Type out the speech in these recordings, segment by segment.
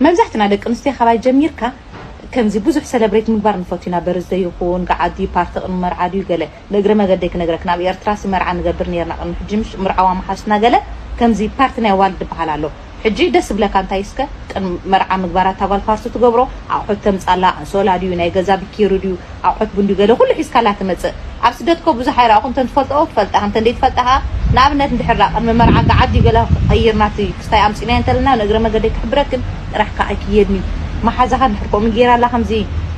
መብዛሕትና ደቂ ኣንስትዮ ካባይ ጀሚርካ ከምዚ ብዙሕ ሰለብሬት ምግባር ንፈቱ ኢና በርዝደይ ይኹን ገዓት ድዩ ፓርቲ ቅድሚ መርዓ ድዩ ገለ ንእግረ መገደይ ክነግረክን ኣብ ኤርትራሲ መርዓ ንገብር ኔርና ቅድሚ ሕጂ ምሽ ምርዓው ኣማሓሽትና ገለ ከምዚ ፓርቲ ናይ ኣዋልድ ድበሃል ኣሎ ሕጂ ደስ ዝብለካ እንታይ እስከ ቅድሚ መርዓ ምግባር ኣታ ጓል ፓርቲ ትገብሮ ኣቑሑት ተምጻላ ኣንሶላ ድዩ ናይ ገዛ ቢኪሪ ድዩ ኣቁሑት ቡንዲ ገለ ኩሉ ሒዝካላ ትመጽእ ኣብ ስደት እኮ ብዙሕ ኣይራእኩን እንተ ትፈልጦኦ ትፈልጣ እንተ ደይ ትፈልጣ ከኣ ንኣብነት እንድሕር ደኣ ቅድሚ መርዓ ገዓዲ ገለ ክቅይር ናቲ ክስታይ ኣምጽናዮ እንተ ለና ንእግረ መገደይ ክሕብረክን ጥራሕ ከኣ ኣይክየድን'ዩ መሓዛካ እንድሕር ከምኡ ገይራላ ከምዚ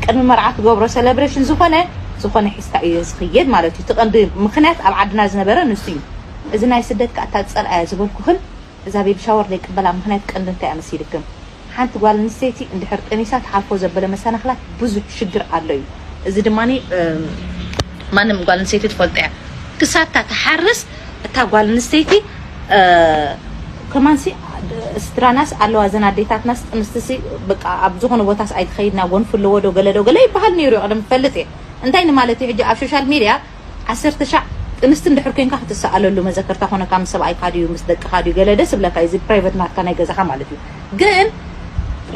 ቅድሚ መርዓ ትገብሮ ሰለብረሽን ዝኮነ ዝኮነ ሒዝካ ኢዩ ዝክየድ ማለት ኢዩ እቲ ቀንዲ ምክንያት ኣብ ዓድና ዝነበረ ንሱ ኢዩ እዚ ናይ ስደት ከኣ እታ ዝጸልኣያ ዝበልኩክን እዛ ቤቢ ሻወር ዘይቅበላ ምኽንያት ቀንዲ እንታይ ኣመሲልክም ሓንቲ ጓል ኣንስተይቲ እንድሕር ጠኒሳ ትሓልፎ ዘበለ መሰናኽላት ብዙሕ ሽግር ኣሎ እዩ እዚ ድማ ማንም ጓል ኣንስተይቲ ትፈልጦ እያ ክሳብ እታ ትሓርስ እታ ጓል ኣንስተይቲ ከማንሲ ስድራናስ ኣለዋ እዘን ኣዴታትናስ ጥንስትሲ በቃ ኣብ ዝኾነ ቦታስ ኣይትኸይድና ጎንፊ ኣለዎ ዶ ገለ ዶ ገለ ይበሃል ነይሩ እዩ ቀደም ትፈልጥ እየ እንታይ ንማለት እዩ ሕጂ ኣብ ሶሻል ሚድያ ዓሰርተ ሻዕ ጥንስቲ እንድሕር ኮንካ ክትሰኣለሉ መዘከርታ ኮነካ ምስ ሰብኣይካ ድዩ ምስ ደቅካ ድዩ ገለ ደስ እብለካ እዩ እዚ ፕራይቨት ናትካ ናይ ገዛካ ማለት እዩ ግን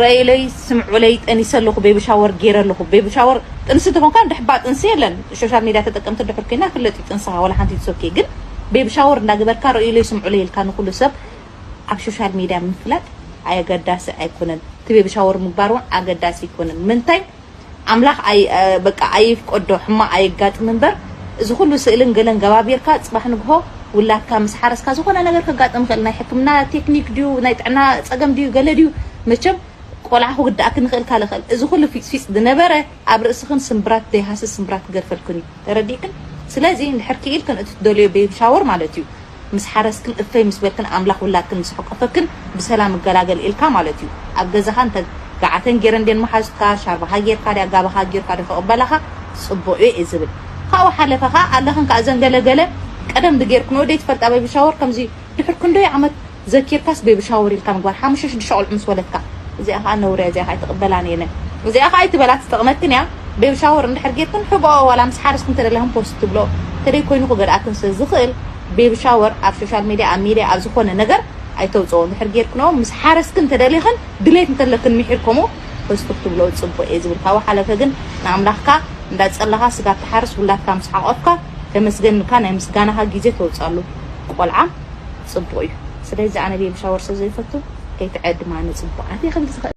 ረእዩለይ ስምዑለይ ጠኒሰ ኣለኩ ቤቢ ሻወር ጌረ ኣለኩ ቤቢ ሻወር ጥንስቲ ተኮንካ እንድሕ እባ ጥንሲ የለን ሾሻል ሚድያ ተጠቀምቲ እንድሕር ኮይና ፍለጥ እዩ ጥንስካ ወላ ሓንቲ ኢትስ ኦኬ ግን ቤቢ ሻወር እንዳገበርካ ረእዩለይ ስምዑለይ ኢልካ ንኩሉ ሰብ ኣብ ሾሻል ሚድያ ምፍላጥ ኣገዳሲ ኣይኮነን እቲ ቤቢ ሻወር ምግባር እውን ኣገዳሲ ኣይኮነን ምንታይ ኣምላኽ ኣይ በቃ ኣይፍቀዶ ሕማቅ ኣየጋጥም እንበር እዚ ኩሉ ስእልን ገለን ገባቢርካ ጽባሕ ንግሆ ውላድካ ምስ ሓረስካ ዝኮነ ነገር ከጋጥም ይክእል ናይ ሕክምና ቴክኒክ ድዩ ናይ ጥዕና ጸገም ድዩ ገለ ድዩ መቸም ቆልዓ ክውድኣክን ይክእል ካለ ክእል እዚ ኩሉ ፊጽፊጽ ድነበረ ኣብ ርእስክን ስምብራት ደይሃስስ ስምብራት ክገድፈልክን እዩ ተረዲእክን ስለዚ እንድሕር ኪኢልክን እቲ ትደልዮ ቤቢ ሻወር ማለት እዩ ምስ ሓረስክን እፍይ ምስ በልክን ኣምላክ ውላድክን ምስ ሐቆፈክን ብሰላም እገላገል ኢልካ ማለት እዩ ኣብ ገዛካ እንተ ጋዓተን ጌረን ድየን መሓዙትካ ሻርባካ ጌርካ ድያ ጋባካ ኣጊርካ ዶ ክቅበላካ ጽቡቅ እዩ እየ ዝብል ካብኡ ሓለፈ ካኣ ኣለክን ካኣ እዘን ገለ ገለ ቀደም ድጌርክንኦ ደይ ትፈልጣ ቤቢ ሻወር ከምዚ ድሕር ክንደይ ዓመት ዘኪርካስ ቤቢ ሻወር ኢልካ ምግባር ሓሙሽተ ሽዱሽተ ቆልዑ ምስ ወለድካ እዚኣ ካኣ ነውሪ እያ እዚኣ ካኣ ኣይትቅበላን እየ እዚኣ ካኣ ኣይትበላ ትጠቅመክን እያ ቤቢ ሻወር እንድሕር ጌርክን ሕብኦ ዋላ ምስ ሓረስክን ተደለክን ፖስት ትብልኦ ተደይ ኮይኑ ክገድኣክን ስለ ዝክእል ቤቢ ሻወር ኣብ ሾሻል ሜድያ ኣብ ሜድያ ኣብ ዝኮነ ነገር ኣይተውጽኦ እንድሕር ጌርክንኦ ምስ ሓረስክን ተደሊክን ድሌት እንተለክን ሚሒር ከምኡ ፖስት ክትብልኦ ጽቡቅ እየ ዝብል ካብኡ ሓለፈ ግን ንኣምላክካ እንዳ ጸለካ ስጋብ ትሓርስ ውላድካ ምስ ሓቆፍካ ተመስገን እልካ ናይ ምስጋናካ ግዜ ተውጻሉ ቆልዓ ጽቡቅ እዩ ስለዚ ኣነ ቤቢ ሻወር ስለ ዘይፈቱ ከይትዕድማ ንጽቡቃት እየ ክብል ዝክእል።